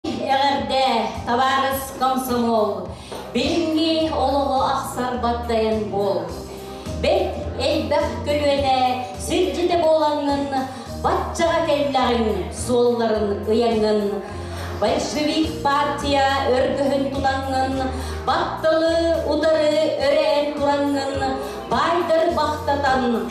Эҕэрдээ, табаарыс комсомол! Билиҥҥи олоҕу ахсар багдайын буол! Бэрт элбэх көлүөнэ сирдьитэ буолаҥҥын, баччаҕа кэллэҕиҥ суолларын ыйаҥҥын, большевик партия өргөһүн тутаҥҥын, батталы утары өрөөн тураҥҥын, баайдар бахтатан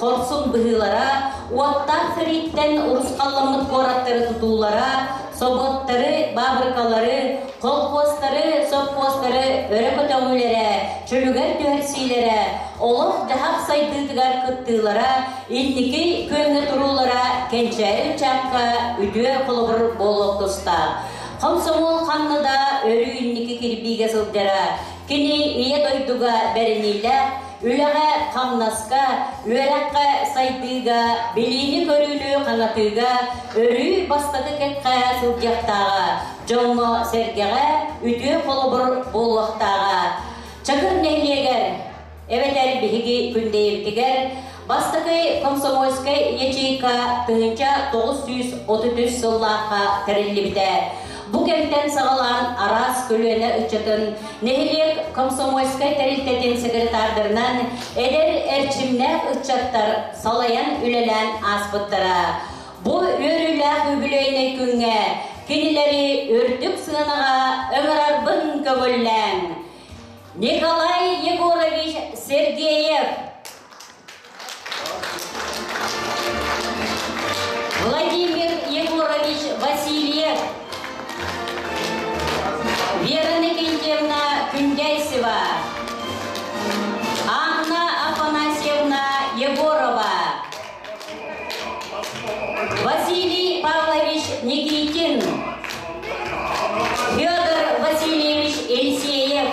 Хорсун быһыылара, уоттаах сэрииттэн урусхалламмыт куораттары тутуулара, собуоттары, баабырыкалары, колхуостары, сопхуостары өрө көтөҕүүлэрэ, чөлүгэр түһэрсиилэрэ, олох-дьаһах сайдыытыгар кыттыылара, инники күөҥҥэ туруулара кэнчээри ыччакка үтүө холобур буолуох тустаах. Хомсомуол ханна да өрүү инники кирбиигэ сылдьара, кини Ийэ дойдуга бэриниилээх Үлэҕэ-хамнаска, үөрэххэ сайдыыга, билиини-көрүүнү хаҥатыыга, өрүү бастакы кэккэ сылдьыахтааҕа, дьоҥҥо-сэргэҕэ үтүө холобур буолуохтааҕа. Чакыр нэһилиэгэр эбэтэр биһиги Күндэйэбитигэр бастакы комсомольскай ячейка тыһыынча тоҕус сүүс отут үс сыллаахха тэриллибитэ. Бу кэмтэн саҕалаан араас көлүөнэ ыччатын, нэһилиэк комсомольскай тэрилтэтин секретардарынан эдэр эрчимнээх ыччаттар салайан үлэлээн ааспыттара. Бу үөрүүлээх юбилейнай күҥҥэ кинилэри үрдүк сыанаҕа ыҥырарбын көҥүллээҥ. Николай Егорович Сергеев Владимир Егорович Васильев, Вера Никитина Күндяйсева, Анна Афанасьевна Егорова, Василий Павлович Никитин, Федор Васильевич Елисеев,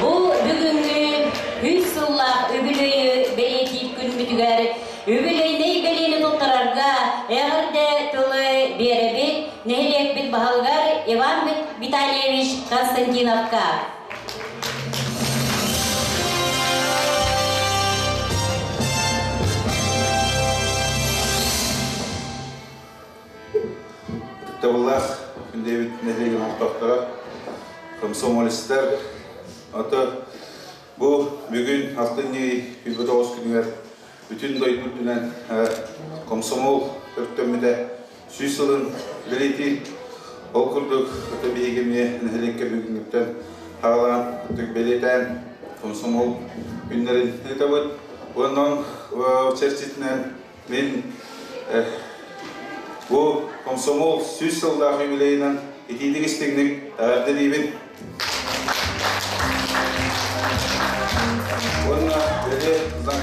Бу бүгүҥҥү үс сыллаах үбүлүөйү бэлиэтиир күнбүтүгэр үбүлүөйнэй бэлиэни туттарарга эҕэрдэ тылы биэрэбит нэһилиэкпит баһылыгар Иван Витальевич Константиновка. Кыттабыллаах диэбит нэһилиэгим олохтоохторо, комсомолистар, ото бу бүгүн алтынньы күйбүт оҕус күнүгэр бүтүн дойду үрдүнэн комсомол өртөммүтэ сүүс сылын бэлиэтии. Ол курдук ото биһиги эмиэ нэһилиэккэ бүгүҥҥүттэн хаалаан бэлиэтээн комсомол күннэрин ыытабыт. Уонна чэрчитинэн Мин бу комсомол сүүс сыллаах юбилейынан итиитик-истиҥник эҕэрдэлиибин. Уонна бэйэ знак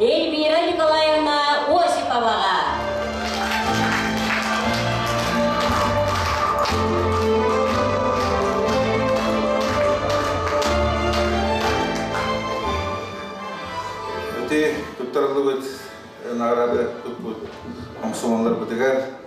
Эльмира Николаевна Осиповаҕа. Ити туттарыллыбыт награды туппут омсуолларбытыгар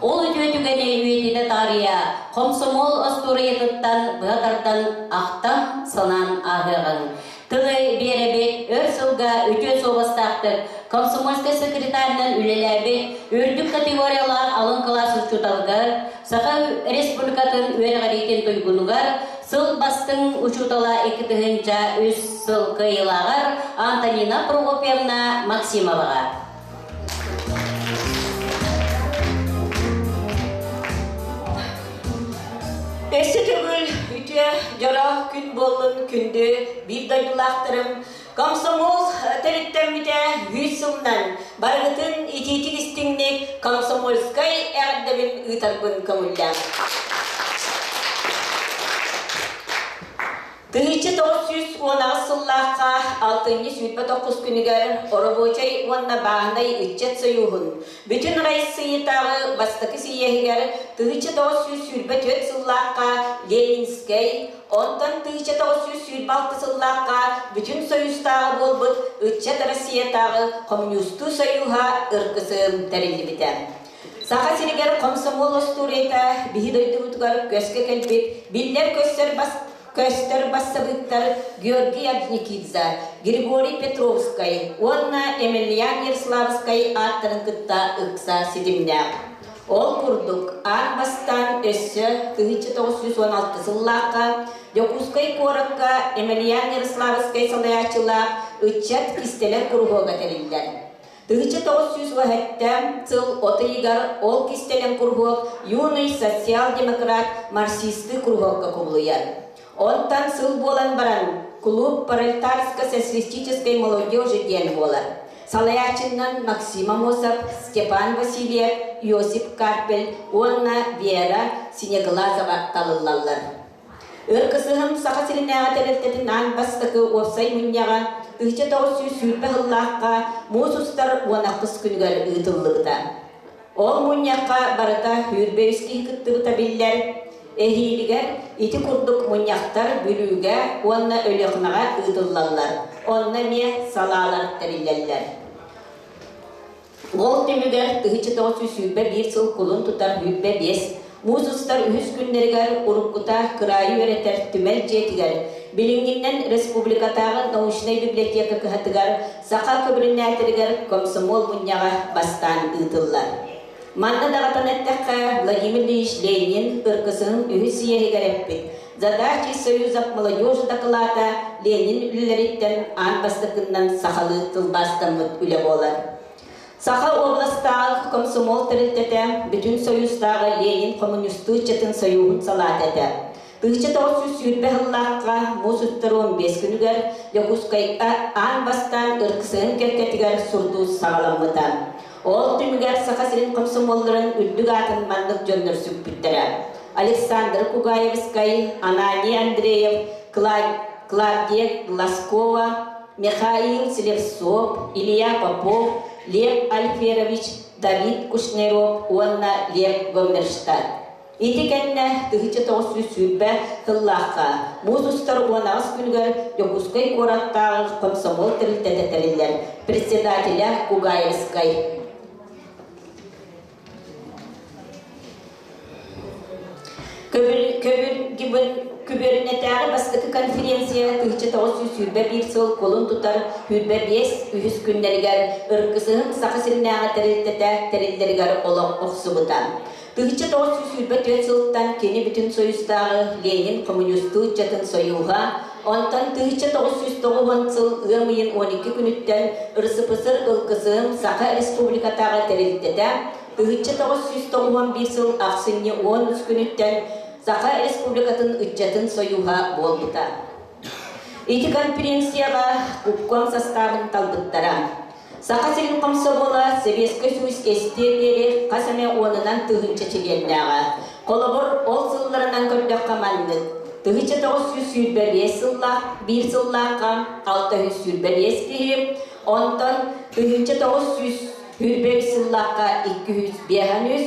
Ол үтүө түгэнэ үйэтитэ таарыйа, хомсомуол остуоруйатыттан быа тардан ахтан, санаан ааһыаҕыҥ. Тылы биэрэбит, өр сылга үтүө суобастаахтык комсомольскай секретарынан үлэлээбит үрдүк категориялаах алын кылаас учууталыгар, Саха Республикатын үөрэҕириитин туйгунугар сыл бастыҥ учуутала икки тыһыынча үс сыл кыайыылааҕар Антонина Прокопьевна Максимоваҕа, Өссө төгүл үтүө дьоро күн буоллун күндү биир дойдулаахтарым комсомол төрүттэммитэ үүт сылынан барытын итиитик истиҥник комсомольскай эҕэрдэбин ыытарбын көҥүллэм Тыһыынча тоҕус сүүс уонаҕыс сыллаахха алтынньы сүүрбэ тоҕус күнүгэр Оробуочай уонна Бааһынай ыччат сойууһун Бүтүн Арассыыйатааҕы бастакы сийиэһигэр тыһыынча тоҕус сүүс сүүрбэ түөрт сыллаахха Ленинскэй, онтон тыһыынча тоҕус сүүс сүүрбэ алта сыллаахха Бүтүн Союзтааҕы буолбут Ыччат Россиятааҕы Коммунистыы сойууһа ыргысым тэриллибитэ. Саха сиригэр хомсомуол остуоруйата биһи дойдубутугар көскө кэлбит биллэр-көстөр бас, көстөр бассабыыктар Георгий Орджникидзе, Григорий Петровскай уонна Емельян Ерславскай ааттарын кытта ыкса ситимнээх. Ол курдук, аан бастаан өссө тыһычча тоҕус сүүс уон алты сыллаахха Дьокуускай куоракка Емельян Ярославскай салайааччылаах ыччат кистэлэҥ куруһуога тэриллэр. тыһыча тоҕус сүүс уон эттээн сыл от ыйыгар ол кистэлэҥ куруһуок Юный социал-демократ марксистскай куруһуокка кубулуйар. Онтон сыл буолан баран кулууп пролетарско-социалистической молодежи диэн буолар. Салайааччынан Максим Амосов, Степан Васильев, Иосиф Карпель уонна Вера Синеглазова талыллаллар. Өр кысыһым Саха сиринээҕи тэрилтэтин аан бастакы уопсай мунньаҕа тыһыча тоҕус сүүс сүүрбэ сыллаахха муус устар уон ахтыс күнүгэр ыытыллыбыта. Ол мунньахха барыта сүүрбэ үс киһи кыттыбыта биллэр. Эһиилигэр ити курдук мунньахтар Бүлүүгэ уонна Өлүөхүмэҕэ ыытыллаллар. Онно эмиэ салаалар тэриллэллэр. Ол түмүгэр тыһыча тоҕус сүүрбэ биир сыл кулун тутар бүлбэ биэс муус устар үһүс күннэригэр уруккута кыраайы үөрэтэр түмэл дьиэтигэр, билиҥҥиннэн республикатааҕы научнай библиотека кыһатыгар саха көбүрүнээтэлигэр комсомол мунньаҕа бастаан ыытыллар. Манна даҕатан эттэххэ, Владимир Ильич Ленин ыркысынын үһүс иэһигэр эппит За дачи Союзов молодежь дакылаата Ленин үлэлэриттэн аан бастакыннан сахалыы тылбаастаммыт үлэ буолар. Саха областааҕы комсомол тэрилтэтэ Бүтүн Союзтааҕы Ленин хомуньустуу ыччатын союһун салаата этэ. 1900 сыллаахха муус устарун бес күнүгэр Дьокуускайга аан бастаан ыркысыһын кэккэтигэр сурдуу саҕаламмыта. Ол түмүгэр Саха сирин комсомолларын үрдүк аатын маннык дьоннор сүкпүттэрэ, Александра Кугаевскай, Анания Андреев, Клавдия Глазкова, Михаил Слевцов, Илья Попов, Лев Альферович, Давид Кушнеров уонна Лев Гомерштадт. Ити кэннэ тыһыча тоҕус сүүс сүүрбэ сыллаахха муус устар уон аҕыс күнүгэр Дьокуускай куораттааҕы хомсомуол тэрилтэтэ тэриллэр председателэ Угаевскай Күбүөрүнэтээҕи бастакы конференция тыһыча тоҕус сүүс сүүрбэ биир сыл кулун тутар сүүрбэ биэс үһүс күннэригэр Ыркысыһым Саха сиринээҕи тэрилтэтэ тэриллэригэр олох охсубута. Тыһычча тоҕус сүүс сүүрбэ түөрт сылтан кини бүтүн союздааҕы Ленин коммунистуу ыччатын союһа, онтон тыһычча тоҕус сүүс тоҕуһун сыл ыам ыйын он икки күнүттэн РСПСР ылгысын Саха Республикатааҕы тэрилтэтэ тыһычча тоҕус сүүс тоҕуһун биир сыл ахсынньы он үс күнүттэн Саха Республикатын ыччатын союһа буолбута. Ити конференцияҕа купком састаабын талбыттара. Саха сирин комсомола Сэбиэскэй сулус кэстиэр диэри хас эмэ уонунан тыһыынча чилиэннээҕэ. Холобур, ол сылларынан көрдөххө маннык. Тыһыынча тоҕус сүүс сүүрбэ биэс сыллаах, биир сыллаахха алта yüz сүүрбэ биэс киһи, онтон тыһыынча тоҕус сүүс сүүрбэ үс сыллаахха икки yüz биэс үс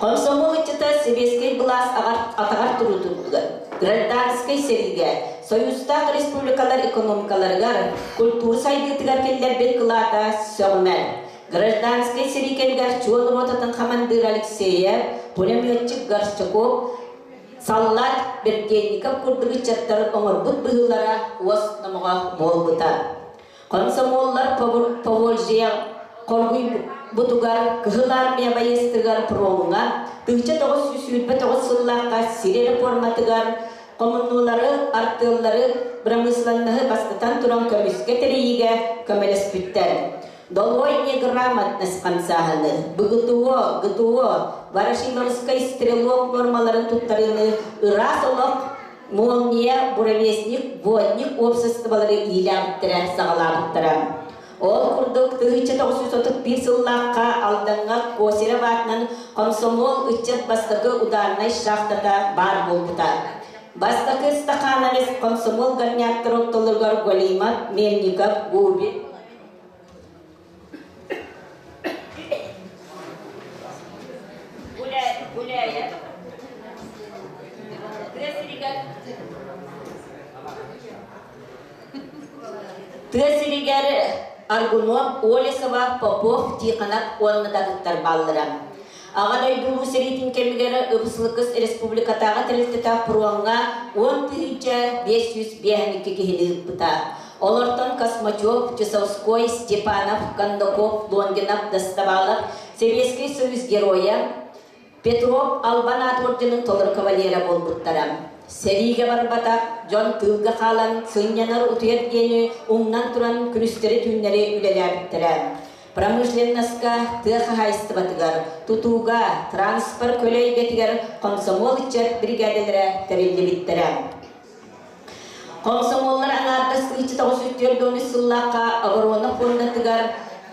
Комсомол ыччата сэбиэскэй былаас атаҕар туруу турдулар. Гражданскай сэриигэ, союзтаах республикалар экономикаларыгар, культура сайдыытыгар киллэрбит кылаата сөҕүмэр. Гражданскай сэрии кэмигэр чуол ротатын хамандыыра Алексеев, пулеметчик Горчаков, саллаат Берденников курдук ыччаттар оҥорбут быһыылара уос номоҕо буолбута. Комсомоллар Поволжье хоргуйбутугар, Кыһыл Армия байыастыгар пруоҥҥа тыһыча тоҕус сүүс сүүрбэ тоҕус сыллаахха сир реформатыгар хомуннулары, артыаллары, бырамыысыланнаһы бастатан туран көмүскэ тэрийиигэ көмөлөспүттэр. Долойни грамотность хамсааһыны, БГТО, ГТО, Ворошиловскай стрелок нуормаларын туттарыыны ыраас олох Молния, буровесник, водник уопсастыбалары иилээбиттэрэ, саҕалаабыттара. Ол курдук, тыһыынча тоҕус жүз отут биир сыллаахха Алдаҥҥа Косерев аатынан комсомол ыччат бастакы ударнай шахтата баар буолбута. Бастакы ыстахаанабыс комсомол горняктар ортолоругар Галимат, Мельников, Губин, тыа сиригэр Аргунов Олесова Попов Тихонов уонна татыттар бааллара Аҕа дойду Улуу сэриитин кэмигэр Ыбыс-Лыкыс республикатааҕы тэрилтэтэ пуруоҥҥа уон тыһыынча биэс сүүс биэхиньикэ киһини ыыппыта. Олортон Космачев, Чусовской, Степанов, Кондаков, Лонгинов дастабаалар Сэбиэскэй Союз Геройа Петров Албан аат орденын толору кавалера буолбуттара. Сэриигэ барбатах дьон тыылга хаалан сынньанар утуйар диэни умнан туран күнүстэри түүннэри үлэлээбиттэрэ. промышленноска, тыа хаһаайыстыбатыгар, тутууга, транспорт көлө эйгэтигэр комсомол ыччат бригадалара тэриллибиттэрэ. Комсомоллар аҥаардас 1994 сыллаахха оборона фондатыгар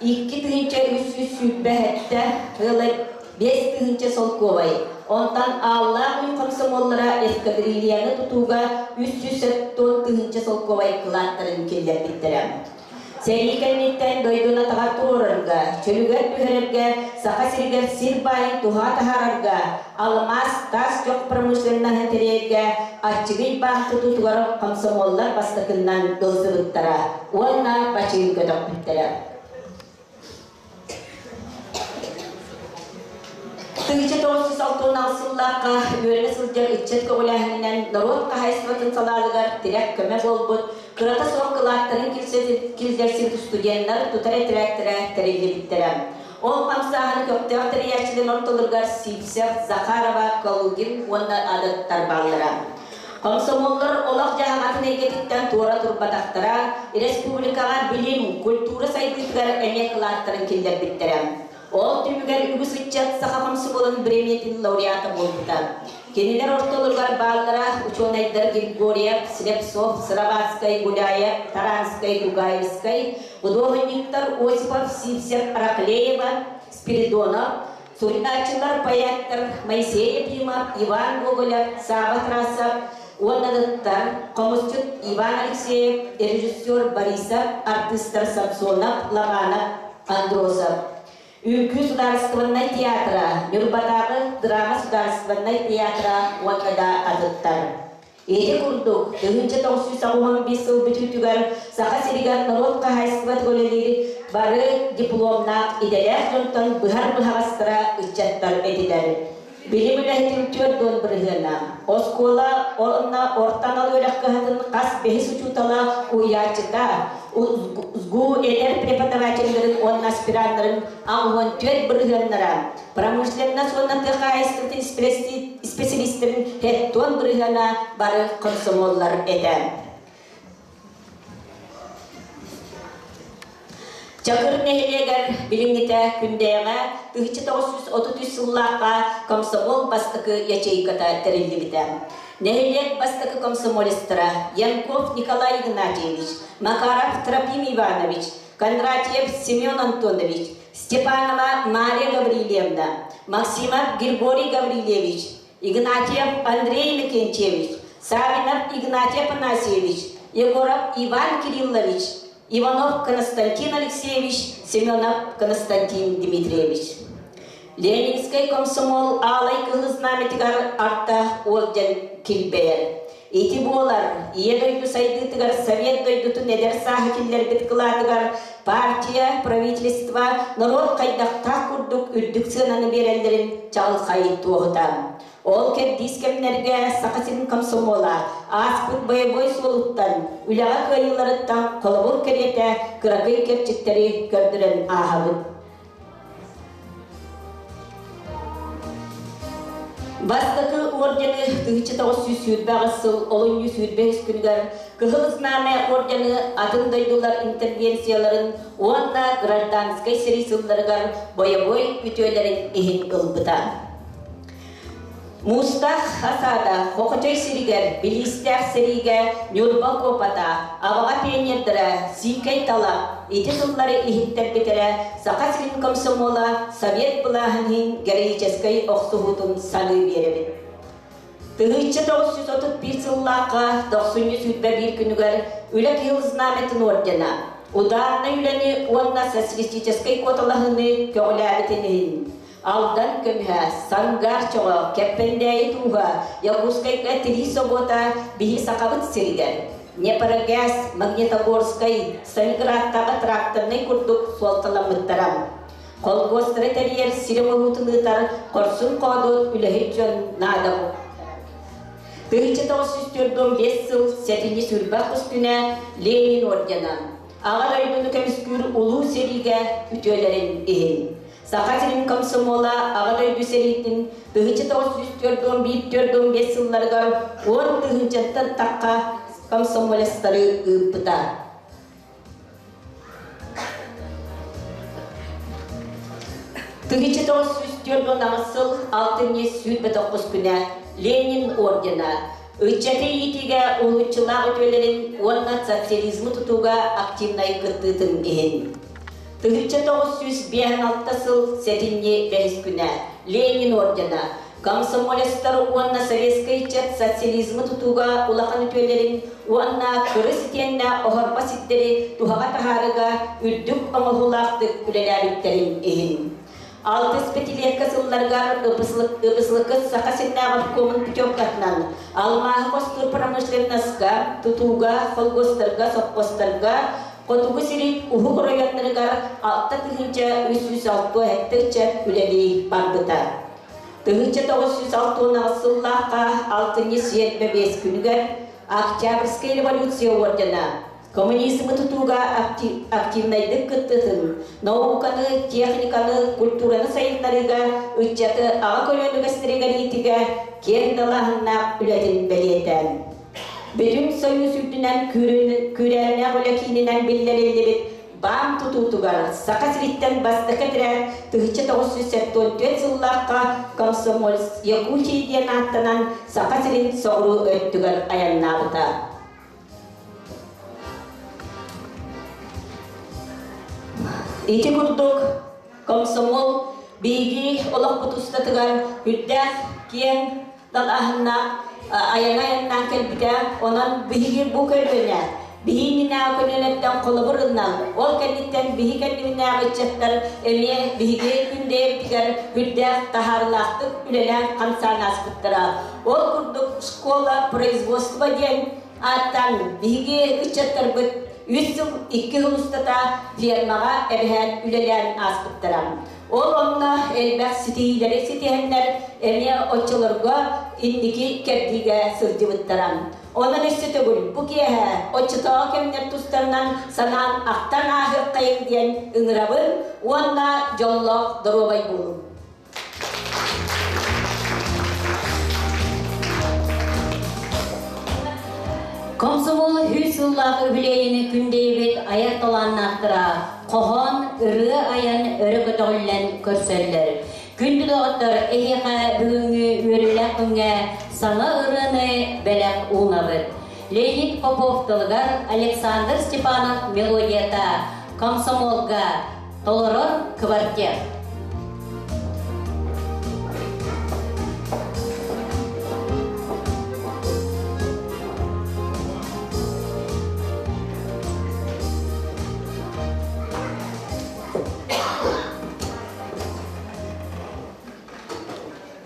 икки тыһыынча үс үс сүүрбэ сэттэ ыла биэс тыһыынча солкуобай, онтон ааллаах үп комсомоллара эскадрильяны тутууга үс сүүс сэтэн тыһыынча солкуобай кылааттарын киллэрбиттэрэ. Сэрии кэнниттэн дойдуну-атаҕар туруорарга, чөлүгэр түһэрэргэ, Саха сиригэр сир баайын туһа таһаарарга, алмаас, гаас чох промышленноһын тэрийэргэ Арчыгый баах тутуутугар комсомоллар бастакыннан тылсыбыттара уонна бачыыҥка төхпүттэрэ. Тыһыча тоҕустус алтуонаал сыллаахха үөрэнэ сылдьар ыччат көҕүлээһининэн норуот хаһайыстыбатын салааныгар тирэх көмө буолбут кырата суох кылааттарын киллэрсибит студеннар тутар этэрээктэрэ тэриллибиттэрэ. Ол хамсааһыны көхтөөх тэрийээччилэр ортолоругар Сивцев, Захарова, Калугин уонна адаттар бааллара. Комсомоллор олох-дьаһаҕатын эйгэтиттэн туора турбатахтара, республикаҕа билим, культура сайдыытыгар эмиэ кылааттарын киллэрбиттэрэ. Ол түмүгэр үгүс ыччат саха комсомолун бириэмийэтин лауреата буолбута. Кинилэр ортолоругар бааллара учуонайдар Григорьев, Слепцов, Сыроватскай, Гуляев, Таранскай, Гугаевскай, худуоһунньуктар Осипов, Сивцев, Раклеева, Спиридонов, Суруйааччылар поэттар Моисей Ефимов, Иван Гоголев, Саба Трассов уонна ытыктар, хомусчут Иван Алексеев, режиссер Борисов, артыыстар Самсонов, Ломанов, Андросов. Үҥкүү судаарыстыбаннай театра, Ньурбатааҕы драма судаарыстыбаннай театра уонна да атыттар. Ити курдук, тыһыынча тоҕус сүүс уон биир сыл бүтүүтүгэр Саха сиригэр норуот хаһаайыстыбатыгар үлэлиир бары дипломнаах идэлээх дьонтон быһар-быһаҕастара ыччаттар этилэр. Билим үлэһитин түөрт уон бырыһыана, оскуола уонна орто анал үөрэх кыһатын хас бэһис учуутала, уйааччыта, СГУ этэр преподавателлэрин уонна аспираннарын аҕыс уон түөрт бырыһыаннара, промышленнас уонна тыа хаһаайыстыбатын исписэлиистэрин хеттон бырыһыана бары комсомоллар этэ. Чакыр нэһилиэгэр билиҥҥитэ күндэйэҕэ тыһыча тоҕус жүз отут үс сыллаахха комсомол бастакы ячейката тэриллибитэ. Нэһилиэк бастакы комсомолистара Янков Николай Игнатьевич, Макаров Трофим Иванович, Кондратьев Семен Антонович, Степанова Мария Гаврильевна, Максимов Григорий Гаврильевич, Игнатьев Андрей Микенчевич, Савинов Игнатий Афанасьевич, Егоров Иван Кириллович, Иванов Константин Алексеевич, Семенов Константин Дмитриевич. Ленинскэй комсомол аалай кыһыл знамятыгар артаах уолдьан килбэйэр. Ити буолар Ийэ дойду сайдыытыгар Совет дойдутун эдэр сааһы киллэрбит кылаатыгар партия, правительство, норуот хайдахтаах курдук үрдүк сыананы биэрэллэрин чаҕылхай туоһута. Ол кэрдиис кэмнэргэ Саха сирин комсомола ааспыт боевой суолуттан үлэҕэ кыайыыларыттан холобур кэриэтэ кыракый кэрчиктэри көрдөрөн ааһабыт. Бастакы ордены 1900-сүүрбэх сыл олунньу сүүрбэһис күнүгэр Кыһыл Знамя ордены атын дойдулар интервенцияларын уонна гражданскай сэрии сылларыгар бойобуой үтүөлэрин иһин ылбыта. Уустаах хасаада Бохочой сиригэр билиистээх сэриигэ Ньурба куопата, Аваҕа пионердара Сиикэй тала ити сыллары иһиттэрбитэрэ Саха сирин комсомола Совет былааһын иһин героическай охсуһуутун саныы биэрэбит. Тыһыынча тоҕус жүз отут биир сыллаахха дохсунньу сүүрбэ биир күнүгэр Үлэ кыһыл знамятын ордена ударнай үлэни уонна социалистическай куоталаһыыны көҕүлээбитин иһин Алдан көмүһэ, Сангар чоҕо, Кэппэндээйи тууһа, Якутскайга тирии собуота биһи Сахабыт сиригэр, Днепрогаз, Магнитогорскай, Сталинградтааҕы тракторнай курдук суолталаммыттара. Холкуостары тэрийэр сирэ-боруутун ыытар хорсун хоодуот үлэһит дьон наада буолбуттара. Тыһычча тоҕус сүүс түөрт уон биэс сыл сэтинньи сүүрбэх үстүнэ Ленин ордена, Аҕа дойдуну көмүскүүр улуу сэриигэ үтүөлэрин иһин, Саха сирин комсомола Аҕа дойду сэриитин тыһыча тоҕус сүүс түөрт уон биир түөрт уон биэс сылларыгар уон тыһыынчаттан тахха комсомолецтары ыыппыта. Тыһыча тоҕус сүүс түөрт уон аҕыс сыл алтынньы сүүрбэ тоҕус күнэ Ленин ордена ыччаты иитиигэ уһулуччулаах үтүөлэрин уонна социализмы тутууга активнай кыттыытын иһин. Тыһычча тоҕус сүүс биэс алта сыл сэтинньи бэһискүнэ Ленин ордена, комсомолецтар уонна советскай ыччат социализмы тутууга улахан үтүөлэрин уонна кырыс итиэннэ оһорбо сирдэри туһаҕа таһаарыыга үрдүк оҥоһуулаахтык үлэлээбиттэрин иһин. Алтыс пятилетка сылларыгар Ыбыслыкы Саха сирдээҕи обкомун путевкатынан алмааһы босхор промышленноска, тутууга, холкуостарга, сопхуостарга, Хотугу сири уһук оройуоннарыгар алта тыһыынча үс сүүс алта хектарча үлэлии барбыта. Тыһыынча тоҕус сүүс алтыанаҕыс сыллаахха алтынньы сиэр бэбиэс күнүгэр Октябрьская революция ордена Коммунизмы тутууга активнайдык кыттытын, науканы, техниканы, культураны сайыннарыыга, ыччаты аҕа көлүөнэ үгэстэригэр иитиигэ киэҥ далааһыннаах үлэтин бэлиэтээн, Бүтүн Союз үрдүнэн күүрээннээх үлэ киининэн биллэриллибит баан тутуутугар Саха сириттэн бастакы этэрээт 1974 сыллаахха «Комсомольц Якутии» диэн ааттанан Саха сирин соҕуруу өттүгэр айаннаабыта. Ити курдук комсомол биһиги олохпут устатыгар үрдээх киэҥ далаһыннаах айана айаннаан кэлбитэ. Онон биһиги бу көрдөнө биһиининээх көлүөнэттэн холобур ылынан, ол кэнниттэн биһи кэннибинээх ыччаттар эмиэ биһиги күндэйэрбигэр үрдээх таһаарылаахтык үлэлээн хамсаан ааспыттара. Ол курдук школа производства диэн ааттан биһиги ыччаттарбыт үс сыл икки сыл устата фермаҕа эбэһээт үлэлээн ааспыттара. Ол онно элбэх ситиһиилэри ситиһэннэр эмиэ оччолорго инники кэрдиигэ сылдьыбыттара. Онон өссө төгүл бу киэһэ оччотооҕу кэмнэр тустарынан санаан ахтан ааһыаххайыҥ диэн ыҥырабын уонна дьоллоох доруобай буолуҥ. Комсомол үс сыллаах үбүлүөйүнү күндэйбит айар талааннаахтара хоһоон ырыа айан өрө көтөҕүллэн көрсөллөр. Күндү доҕоттор, эһиэхэ бүгүҥҥү үөрүүлээх күҥҥэ саҥа ырыаны бэлэх уунабыт. Леонид Попов тылыгар Александр Степанов мелодията комсомолга Толоро квартир.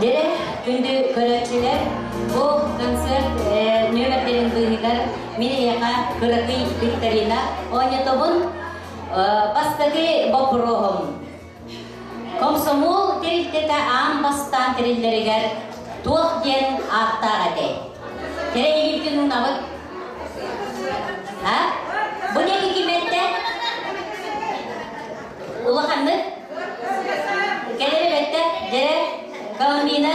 Дьире күндү көрөөччүлэр, бу концерт э, нөмірдерин быыһыгар мин эйэҕэ кыракый викторина оонньотобун бастакы боппуруоһум комсомол тэрилтэтэ аан бастаан тэриллэригэр туох диэн ааттаах этэ тэрээһинбитин уунабыт бу диэки киметтэн улаханнык кэлэр эбэттэ дьэрэ Коломина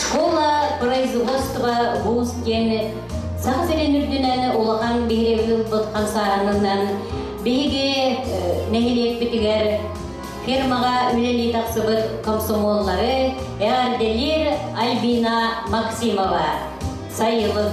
Школа производства вуз диэн саха сирин үрдүнэн улахан биһирэби ылбыт хамсааһынынан биһиги нэһилиэкпитигэр фирмаҕа үлэлии тахсыбыт комсомоллары Эрделир Альбина Максимова сайылык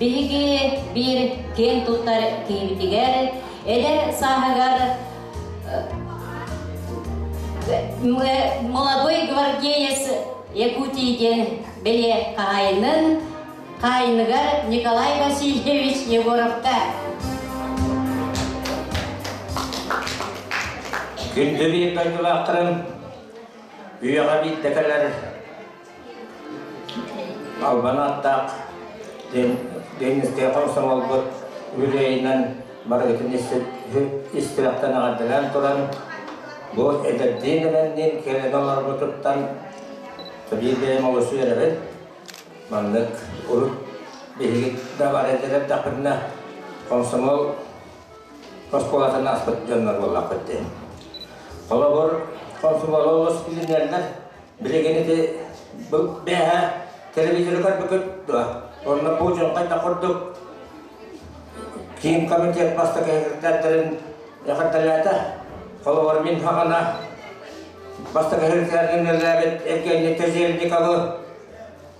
Биһиги биир киин туттар киһибитигэр эдэр сааһыгар молодой гвардеец Якутии диэн бэлиэ хаһайынын хаайыныгар Николай Васильевич Егоровка Күндү биир дойдулаахтарым, үйэҕэ биирдэ кэлэр Албан ааттаах Дэнистэй хомсоҥолбут үрэйинэн барыгытын истиэхтэн аҕардынан туран, бу эдэрдиин эмэнниин кэлэн олорбутуттан биир бэйэм олус үөрэбин. Маннык урут биһиги да бар этэр эрдэхпинэ, хомсомол оскуолатын аспыт дьоннор буоллахпыт дии. Холобур, хомсомолу олус билинэллэр, Билигин ити бэһэ телевизору көрбүкүт дуо? Онно бу дьоҥхайда курдук киин комитет бастакы секретарьдарын эҕэрдэлээтэ. Холобур, мин хаҕана бастакы секретарьдарын үлэлээбит Евгений Тезельниковы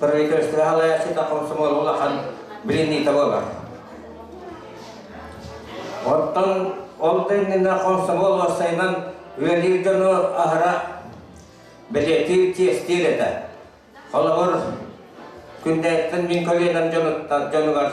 правительство хаалааччыта комсомол улахан билинии того бар. Оттон ол да иннинэ комсомол уоссайынан үөлиир дьону аһара билетиир тиэстиир этэ. Холобур, күннээттэн мин көлүөнэм дьонуттан дьонугар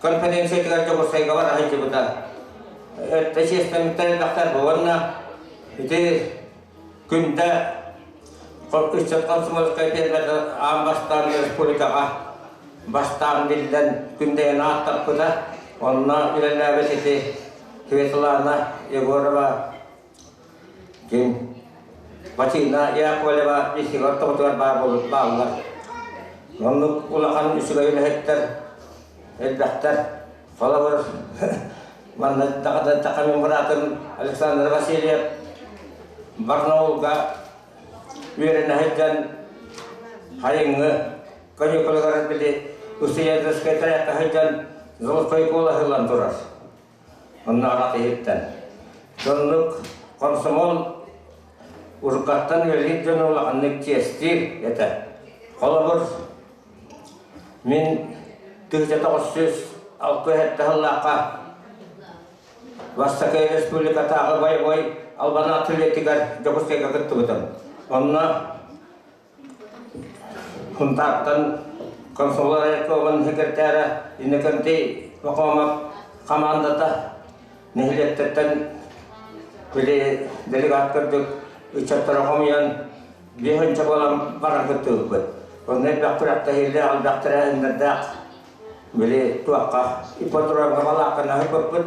Конференциятыгар дьоҕурсайгалар аһылдьыбыта. Өртө чиэстэммиттэр элбэхтэр буоланна. Ити күндэ ыччат комсомольскай терминал аан бастаан республикаҕа бастаан биллэн күндэйэн ааттаппыта. Онно үлэлээбит ити Светлана Егорова Дьиҥ, Василина Яковлева Исилов тоҕутугар баар буолбут бааллар. Оннук улахан үчүгэй үлэһиттэр элбэхтэр. Холобур, манна Дахата мен братым Александр Васильев Барнаулга үөрэнэ сылдьан Харыҥҥы каникулугар били Уссуйаевскай тайахха сылдьан Золотой куолаһы ылан турар. Онно аҕа киһиттэн. Соннук комсомол уруккаттан үлэлиир дьону улаханнык чиэстиир этэ. Холобур, мин 1960 сыллаахха Бастакы республикатааҕы бойобуой албан атлетигар Дьокуускайга кыттыбытым. Онно Хунтаартан консулар айакка оҕын секретаря Иннокентий Макомов хамаандата нэһилиэктэртэн били делегат курдук ыччаттары хомуйан биэс ынча буолан баран кыттыбыппыт. Онно элбэх күрэхтэһиилээх, элбэх тэрээһиннэрдээх били туохха ипподромҥа балаакканы аһыппыппыт.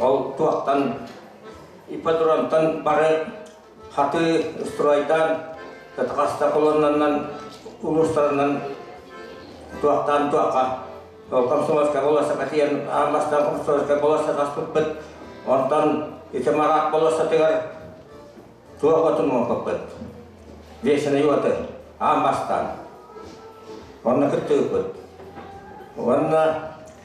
Ол туохтан ипподромтан бары хатыы стройдаан кытахаста колоннаннан улуустарынан туохтаан туохха ол комсомольскай болосса тиийэн аан бастаан комсомольскай болосса таспыппыт онтон ити мараак болоссатыгар туох отун муоппаппыт вешеный оты аан бастаан онно кыттыбыппыт уонна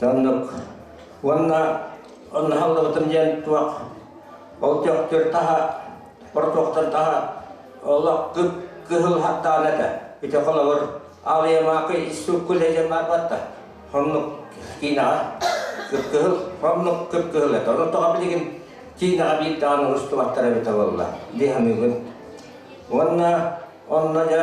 Соннук. Уонна онно халлыбытым диэн туох ол төхтүр таһа портуохтан таһа олох кыһыл хаттаан этэ. Ити холобур алыйамаакы иссуккул эдем барбатта. Хомнук киинэҕэ кыпкыһыл, хомнук кыпкыһыл этэ. Ону тоҕа билигин киинэҕэ биир даҕаны устубаттар эбитэ буолла. Дии саныыбын. Уонна онно дьэ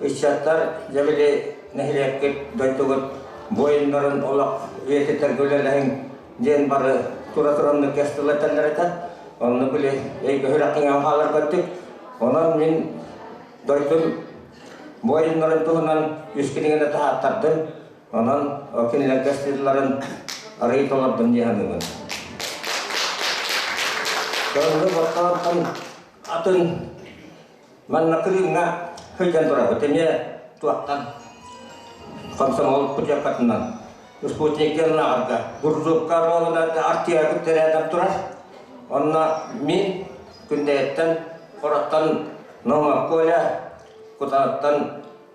Ыччаттар, дьэ били нэһилиэкпит, дойдугут буойуннарын олох үйэтитэргэ үлэлэһиҥ диэн бары тура-тураннык кэс тыла этэллэр Онно били өйгөһүрэххиҥэн хаалар көттүк. Онон мин дойдум буойуннарын туһунан үс кинигэни таһааттардым. Онон ол кинилэргэ сыылларын арыый толордум дии саныыбын. Дойду Баттаҕаттан атын Манна кырыымҥа сылдьан турабыт эмиэ туохтан комсомол путевкатынан спутниктар ынааҕарга буржуукка буолунарга артыарбыт тэрээдэр турар онно мин күндэйэттэн хороттон Нома Коля Кутаныттан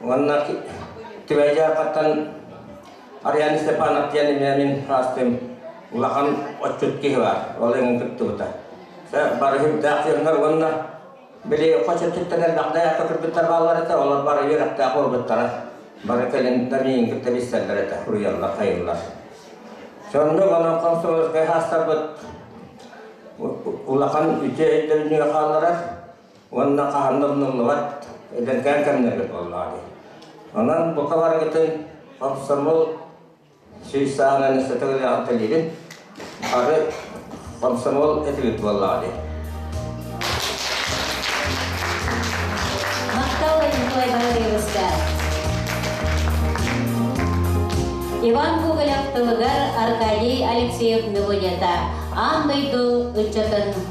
Уонна түбэй дьаахаттан Ариан Степанов диэн эмиэ мин раастым улахан отчут киһи бар. Ол эҥин туттубута. Бары хүндээх дьоннор уонна били хочеттиттэн элбэхтэ яққа күрбүттэр бааллар этэ, олор бары үөрэхтээх буолбуттара. Бары кэлин да миин кытта билсэллэр этэ, уйаллар, хайыллар. Сонно болон комсомольскай хаастарбыт улахан үтүө өйдөбүнүгэ хаалларар. уонна хаһан да умнуллубат эдэркээн кэмнэрбит буоллаҕа дии. Онон бука барыгытын хомсомол сүүс саананы сөтөг үлэҕин төлүүрүн бары хомсомол этибит буоллаҕа дии. Махтал Николай Валерьевичка. Иван Гоголев тылыгар Аркадий Алексеев Ныгынета аан дойду ыччатын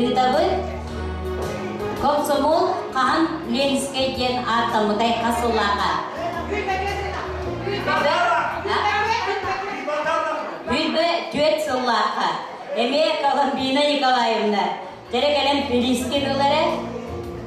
Ыытабыт Комсомол хаһан Ленскэй диэн ааттаммытай хас сыллааха? Бүлбэ түөрт сыллаахха. Эмиэ Коломбина Николаевна, дэрэ кэлэн бириискэ дылары.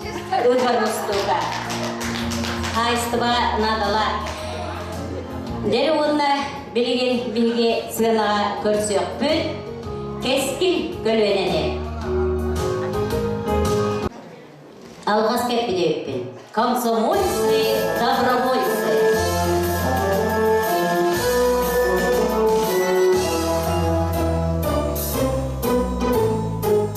Дружба Госдука хаайыстыба надала дэр уонна билигин биһиги сыанаҕа көрсүөхпүт кэскил көлүөнэни алгас кеппидеппин комсомольцы добровольцы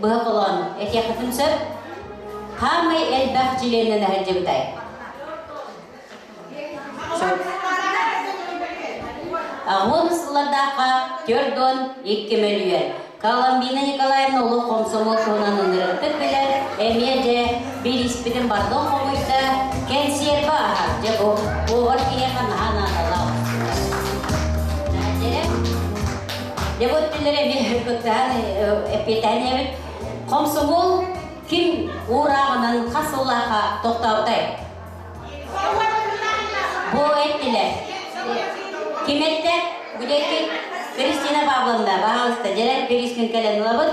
быһа холоон этиэххитин сөп хаамай элбэх чилиэннэн эһэлдьибитай аҕун сыллардаахха төрт уон икки мөлүйүөн Коломбина Николаевна олох хомсомуот туһунан ынырыктык билэр эмиэ дьэ бирииспитин бардон хомуйда кэнсиэрбэ аһар дьэбу повар киһиэхэ наһаа наадалаах Дьэ вот билэр эмиэ эпитаниябыт. Хомсугул ким уурааҕынан хас сыллааха тохтообутай? Бу эттилэр. Киметте, бүдекит Кристина Павловна, баҕалыста, дьэлэр Перискин кэлэн ылабыт.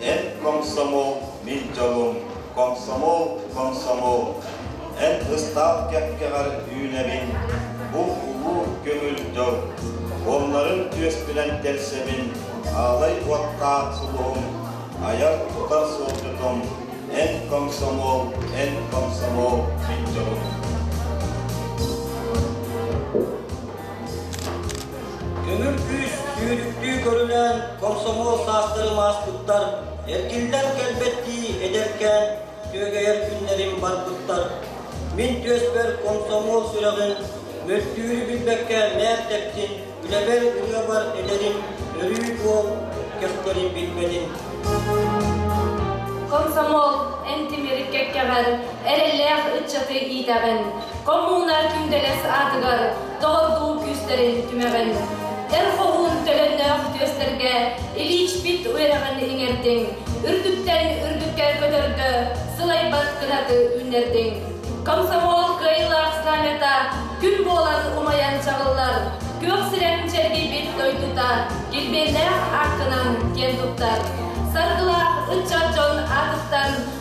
Эн комсомол, мин дьолум, комсомол, комсомол, эн ыстаал кэккэҕэр үүнэбин, бу улуу көҥүл дьыл, уоннарын түөспүнэн тэлсэбин, аалай уоттаах сулуһум, айар-тутар суолдьутум, эн комсомол, эн комсомол, мин дьолум. Күҥүр күүс түүнүктүү көрүнэн комсомол саастарым ааспыттар, эргиллэн кэлбэттии эдэркээн күөгэйэр күннэрим барбыттар. Мин түөспэр комсомол сүрэҕин, мөлтүүрү билбэккэ мээртэптин, үлэбэр ырыабар эдэрим, өрүү буол, көхтөрүн билбэтин. Комсомол, эн тимирик кэккэҕэр эрэллээх ыччаты иитэҕин. Коммунар Күндэгэс аатыгар доҕордуу күүстэрин түмэҕин. Эр хоһуун төлөннөөх түөстэргэ илиичпит үөрэҕин иҥэрдиҥ, үрдүктэн үрдүккэ көтөргө сылайбат кынаты үүннэрдиҥ. Комсомол кыайыылаах знамята күн буолан умайан чаҕыллар, күөх сирэн чэргийбит дойдута килбиэннээх ааккынан киэн туттар. Саргылаах ыччат дьон аатыттан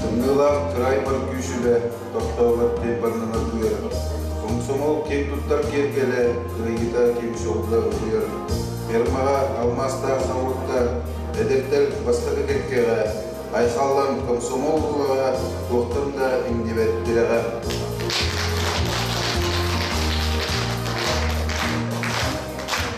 Тымныылаах кырайбар күүсүбэ, тохтообот тайбаннана тыыр. Комсомол киэҥ туттар киэргэлэ, кырайыта кимсолла ытыйар. Фермаҕа алмаастаах савутта, эдэртэр бастакы кэккэҕэ, айхаллан комсомол улаҕа туохтан да иҥнибэт тирэҕэ.